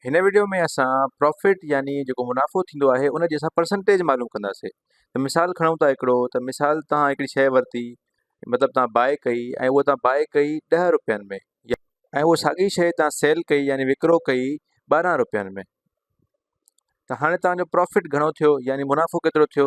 هن وڊيو ۾ اسان پرافٽ يعني جيڪو منافعو ٿيندو آهي ان جي اسان پرسنٽيج معلوم ڪنداسي ته مثال کڻون ٿا هڪڙو ته مثال تهان هڪڙي شئي ورتي مطلب تهان باء ڪئي ۽ هو تهان باء ڪئي ڏهه روپين ۾ ۽ هو ساڳي شئي تهان سيل ڪئي يعني وڪرو ڪئي ٻارهن روپين ۾ ته هاڻي تهان جو پرافٽ گهڻو ٿيو يعني منافعو ڪيترو ٿيو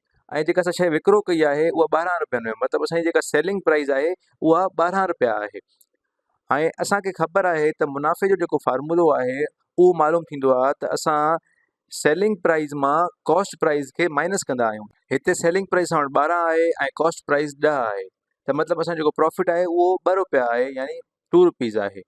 ۽ جيڪا اسان شيء وڪرو ڪئي آهي اها ٻارهن روپين ۾ مطلب اسان جي جيڪا سيلنگ پرائز آهي اها ٻارهن روپيا آهي ۽ اسانکي خبر آهي ته منافعي جو جيڪو فارمولو آهي اهو معلوم ٿيندو آهي ته اسان سيلنگ پرائز مان ڪاسٽ پرائز کي مائنس ڪندا آهيون هتي سيلنگ پرائز اسان وٽ ٻارهن آهي ۽ ڪاسٽ پرائز ڏهه آهي ته مطلب اسان جيڪو پروفٽ آهي اهو ٻه روپيا آهي يعني ٽو روپيز آهي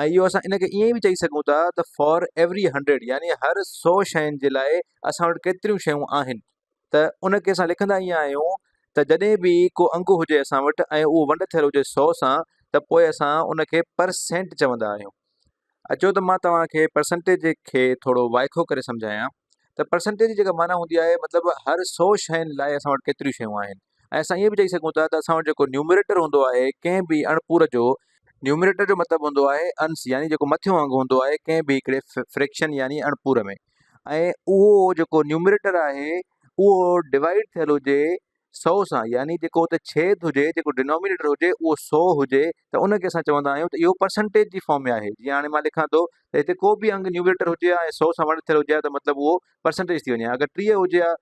۽ اهو اسان ان کي ائين به چئي سگهون ٿا ته فار ايوري هنڊريڊ يعني هر سو شين جي لاء اسان وٽ ڪيتريون شيون آهن ته ان کي اسان لکندا ائين آهيون ته جڏهن به ڪو انگ هجي اسان وٽ ۽ اهو ونڊ ٿيل هجي سو سان ته پوء اسان ان کي پرسينٽ چوندا آهيون اچو ته مان توهان کي پرسنٽيج کي ٿورو وائکو ڪري سمجهايان ته پرسنٽيج جي جيڪا معنيٰ هوندي آهي مطلب هر سو شين لاء اسان وٽ ڪيتريون شيون آهن ۽ اسان ائين به چئي سگهون ٿا ته اسان وٽ جيڪو نيومريٽر هوندو آهي ڪنهن به اڻپور جو، نيومريٽر جو مطلب هوندو آهي انس يعني جيڪو مٿيون انگ هوندو آهي ڪنهن به هڪڙي فريڪشن يعني اڻپور ۾، ۽ اهو جيڪو نيومريٽر آهي اهو ڊوائيڊ ٿيل هجي سئو سان يعني جيڪو اتي ڇيد هجي جيڪو ڊينومينيٽر هجي اهو سئو هجي ته ان کي اسان چوندا آهيون ته اهو پرسنٽيج جي فارم ۾ آهي جيئن هاڻي مان لکان ٿو ته هتي ڪو به انگ نيومريٽر هجي ها ۽ سئو سان ونڊ ٿيل هجي ها ته مطلب اهو پرسنٽيج ٿي وڃي ها اگر ٽيهه هجي ها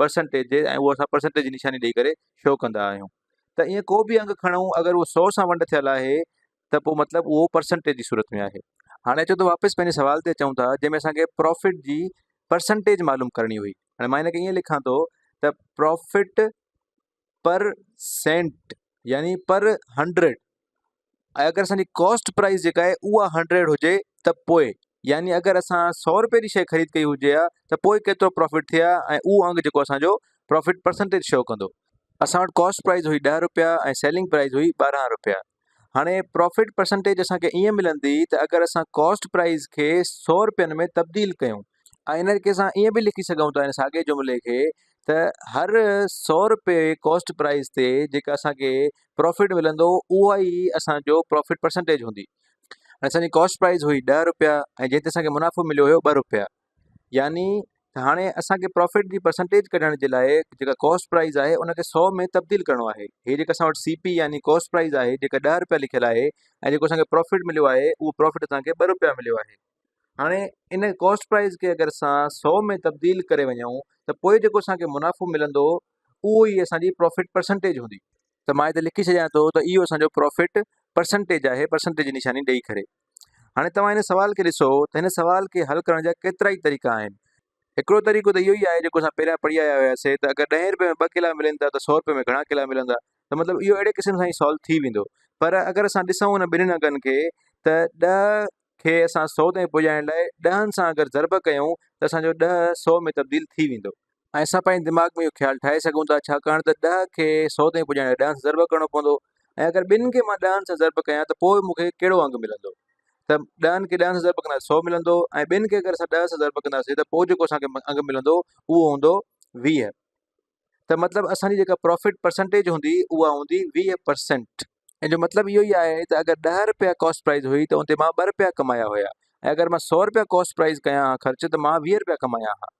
پرسنٽيج ڏي ۽ اهو اسان پرسنٽيج جي نشاني ڏئي ڪري شو ڪندا آهيون ته ائين ڪو به انگ کڻون اگر اهو سو سان ونڊ ٿيل آهي ته پوء مطلب اهو پرسنٽيج جي صورت ۾ آهي هاڻي اچو ته واپس پنهنجي سوال تي اچون ٿا جنهن ۾ اسانکي پروفٽ جي پرسنٽيج معلوم ڪرڻي هئي هاڻي مان هن کي ائين لکان ٿو ته پروفٽ پر سينٽ يعني پر هنڊريڊ ۽ اگر اسانجي ڪاسٽ پرائز جيڪا آهي اها هنڊريڊ هجي ته پوء يعني اگر اسان سو روپئي جي شي خريد ڪئي هجي ها ته پوء ڪيترو پرافٽ ٿئي ها ۽ اهو انگ جيڪو اسانجو پرافٽ پرسنٽيج شو ڪندو اسان وٽ ڪاسٽ پرائز هئي ڏهه روپيا ۽ سيلنگ پرائز هئي ٻارهن روپيا هاڻي پرافٽ پرسنٽيج اسان کي ائين ملندي ته اگر اسان ڪاسٽ پرائز کي سؤ روپين ۾ تبديل ڪيون ۽ ان کي اسان ائين به لکي سگهون ٿا ان ساڳئي جملي کي ته هر سؤ روپيه ڪاسٽ پرائز تي جيڪا اسان کي پرافٽ ملندو اها ئي اسان جو پرافٽ پرسنٽيج هوندي اسان جي ڪاسٽ پرائز هئي ڏهه روپيا ۽ جنهن تي اسان کي منافعو مليو هيو ٻه روپيا يعني هاڻي اسان کي پرافٽ جي پرسنٽيج ڪڍڻ جي لاء جيڪا ڪاسٽ پرائز آهي ان کي 100 ۾ تبديل ڪرڻو آهي هي جيڪا اسان وٽ سي پي يعني ڪاسٽ پرائز آهي جيڪا ڏهه روپيا لکيل آهي ۽ جيڪو اسان کي پرافٽ مليو آهي اهو پرافٽ اسان کي ٻه روپيا مليو آهي هاڻي ان ڪاسٽ پرائز کي اگر اسان 100 ۾ تبديل ڪري وڃون ته پوء جيڪو اسان کي منافعو ملندو اهو ئي اسان جي پرافٽ پرسنٽيج هوندي ته مان هتي لکي ڇڏيان ٿو ته اهو اسان جو پرافٽ پرسنٽيج آهي پرسنٽيج جي نشاني ڏئي ڪري هاڻي توهان هن سوال کي ڏسو ته هن سوال کي حل ڪرڻ جا ڪيترا ئي طريقا آهن. هڪڙو طريقو ته اهو ئي آهي جيڪو اسان پهريان پڙهي آيا هياسين ته اگر ڏهين رپئي ۾ ٻه ڪيلا ملين ٿا ته سؤ رپئي ۾ گهڻا ڪيلا ملندا ته مطلب اهو اهڙي قسم سان ئي سالو ٿي ويندو پر اگر اسان ڏسون هن ٻنهين انگن کي ته ڏهه کي اسان سؤ تائين پڄائڻ لاء ڏهن سان اگر ضرب ڪيون ته اسان جو ڏهه سؤ ۾ تبديل ٿي ويندو. ۽ اسان پنهنجي دماغ ۾ اهو خيال ٺاهي سگهون ٿا ڇاڪاڻ ته ڏهه کي سو تائين پڄائڻ لاء ڏهن سان ضرب ڪرڻو پوندو ۽ اگر ٻن کي مان ڏهن سان ضرب ڪيان ته پوء مون کي ڪهڙو انگ ملندو ته ڏهن کي ڏهن سان ضرب ڪنداسين سو ملندو ۽ ٻن کي اگر اسان ڏهه سان ضرب ڪنداسين ته پوء جيڪو اسان کي انگ ملندو اهو هوندو ويهه ته مطلب اسان جي جيڪا پروفٽ پرسنٽيج هوندي اها هوندي ويهه پرسنٽ ان جو مطلب اهو ئي آهي ته اگر ڏهه رپيا ڪاسٽ پرائز هئي ته ان تي مان ٻه رپيا ڪمايا هيا ۽ اگر مان سو رپيا ڪاسٽ پرائز ڪيان ها خرچ ته مان ويهه رپيا ڪمايا ها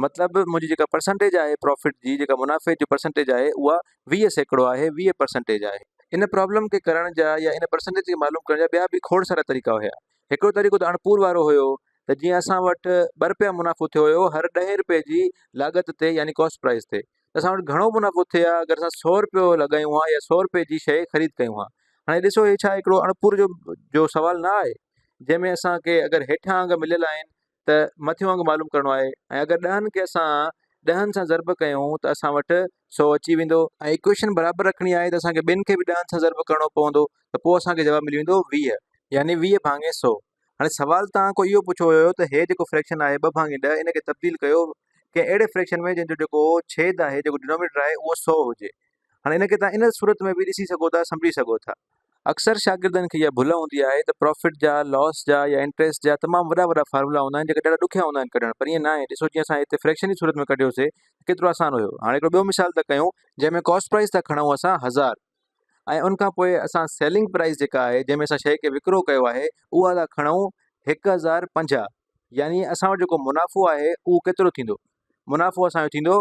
مطلب منهنجي جيڪا پرسنٽيج آهي پروفٽ جي جيڪا منافعي جي پرسنٽيج آهي اها ويهه سيڪڙو آهي ويهه پرسنٽيج آهي ان پرابلم کي ڪرڻ جا يا ان پرسنٽيج کي معلوم ڪرڻ جا ٻيا به کوڙ سارا طريقا هيا هڪڙو طريقو ته اڻپور وارو هيو ته جيئن اسان وٽ ٻه رپيا منافعو ٿيو هيو هر ڏهين رپئي جي لاڳت تي يعني ڪاسٽ پرائز تي ته اسان وٽ گهڻو منافعو ٿئي ها اگر اسان سؤ رپيو لڳايون ها يا سؤ رپئي جي شيء خريد ڪيون ها هاڻي ڏسو هي ڇا هڪڙو اڻپور جو جو سوال نه آهي جنهن ۾ اسان کي اگر هيٺان انگ مليل آهن ته مٿيون انگ معلوم ڪرڻو آهي ۽ اگر ڏهن کي اسان ڏهن سان ضرب ڪيون ته اسان وٽ سؤ اچي ويندو ۽ ايڪويشن برابر رکڻي آهي ته اسان کي ٻن کي به ڏهن سان ضرب ڪرڻو پوندو ته پوء اسان کي جواب ملي ويندو ويهه يعني ويهه ڀاڱي سؤ هاڻي سوال توهان کان اهو پڇيو ويو ته هي جيڪو فريڪشن آهي ٻه ڀاڱي ڏهه ان کي تبديل ڪيو ڪنهن اهڙي فريڪشن ۾ جنهن جو جيڪو ڇيد آهي جيڪو ڊنومينيٽر آهي اهو سؤ هجي هاڻي ان کي توهان ان صورت ۾ به ڏسي سگهو ٿا سمجهي سگهو ٿا اڪثر شاگردن کي اها ڀل هوندي آهي ته پرافٽ جا لوس جا يا انٽريسٽ جا تمام وڏا وڏا فارمولا هوندا آهن جيڪي ڏاڍا ڏکيا هوندا آهن ڪڍڻ پر ائين ناهي ڏسو جيئن اسان هتي فريڪشن جي صورت ۾ ڪڍيوسي ڪيترو آسان هيو هاڻي هڪڙو ٻيو مثال ٿا ڪيون جنهن ۾ ڪاسٽ پرائز ٿا کڻون اسان هزار ۽ ان کان پوء اسان سيلنگ پرائز جيڪا آهي جنهن ۾ اسان شيء کي وڪرو ڪيو آهي اها ٿا کڻون هڪ هزار پنجاهه يعني اسان وٽ جيڪو منافعو آهي اهو ڪيترو ٿيندو منافعو اسان جو ٿيندو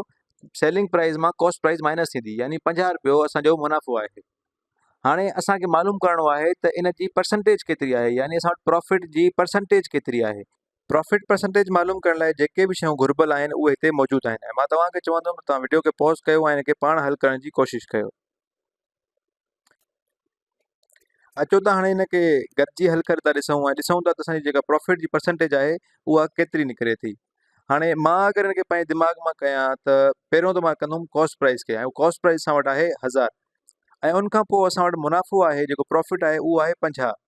سيلنگ پرائز مان ڪاسٽ پرائز مائنس ٿيندي يعني پنجاهه روپيو اسان جو منافعو آهي هاڻي اسان کي معلوم ڪرڻو آهي ته ان جي پرسنٽيج ڪيتري آهي يعني اسان وٽ پروفٽ جي پرسنٽيج ڪيتري آهي پروفٽ پرسنٽيج معلوم ڪرڻ لاء جيڪي به شيون گهربل آهن اهي هتي موجود آهن ۽ مان توهان کي چوندم توهان وڊيو کي پوز ڪيو ۽ ان کي پاڻ حل ڪرڻ جي ڪوشش ڪيو اچو ته هاڻي هن کي گڏجي حل ڪري ٿا ڏسون ۽ ڏسون ٿا ته اسان جي جيڪا پرافٽ جي پرسنٽيج آهي اها ڪيتري نڪري ٿي هاڻي مان اگر هن کي پنهنجي دماغ مان ڪيان ته پهريون ته مان ڪندوم ڪاسٽ پرائز کي ۽ ڪاسٽ پرائز اسان وٽ آهي هزار ۽ ان کان پوء اسان وٽ منافعو آهي جيڪو پرافٽ آهي اهو آهي پنجاهه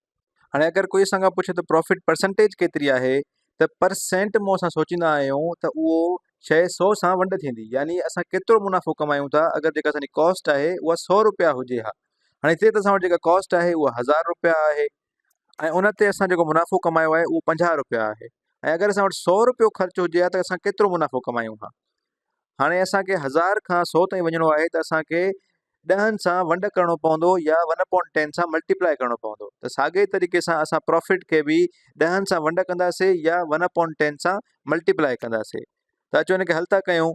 هاڻي اگر ڪوئي اسان کان پڇي ته پرافٽ پرسنٽيج ڪيتري آهي ته پر سينٽ مون اسان سوچيندا آهيون ته اهو شيء سو سان ونڊ ٿيندي يعني اسان ڪيترو منافعو ڪمايون ٿا اگر جيڪا اسان جي ڪاسٽ آهي اها سو روپيا هجي ها هاڻي هتي ته اسان وٽ جيڪا ڪاسٽ آهي اها هزار روپيا آهي ۽ ان تي اسان جيڪو منافعو ڪمايو آهي اهو پنجاهه روپيا آهي ۽ اگر اسان وٽ سؤ روپيو خرچ هجي ها ته اسان ڪيترو منافعو ڪمايون ها هاڻي اسانکي هزار کان سؤ تائين وڃڻو آهي ته اسانکي ڏهن سان ونڊ ڪرڻو پوندو يا ون اپون ٽين سان ملٽيپلائي ڪرڻو پوندو ته ساڳي طريقي سان اسان پروفٽ کي به ڏهن سان ونڊ ڪنداسي يا ون اپون ٽين سان ملٽيپلائي ڪنداسي ته اچو ان کي حل ٿا ڪيون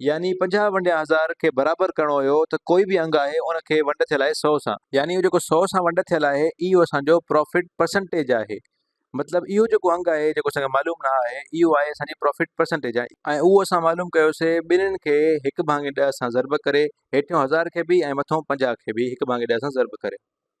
يعني پنجاهه ونڊيا هزار کي برابر ڪرڻو هيو ته ڪوئي به انگ آهي ان کي ونڊ ٿيل آهي سؤ سان يعني جيڪو سؤ سان ونڊ ٿيل آهي اهو اسان جو پرافٽ پرسنٽيج آهي مطلب اهو جيڪو انگ آهي جيڪو اسان کي معلوم نه آهي اهو آهي اسان جي پرافٽ پرسنٽيج ۽ اهو اسان معلوم ڪيوسي ٻنهن کي هڪ ڀاڱي ڏهه سان ضرب ڪري هيٺيون هزار کي به ۽ مٿئون پنجاهه کي به هڪ ڀاڱي ڏهه سان ضرب ڪري.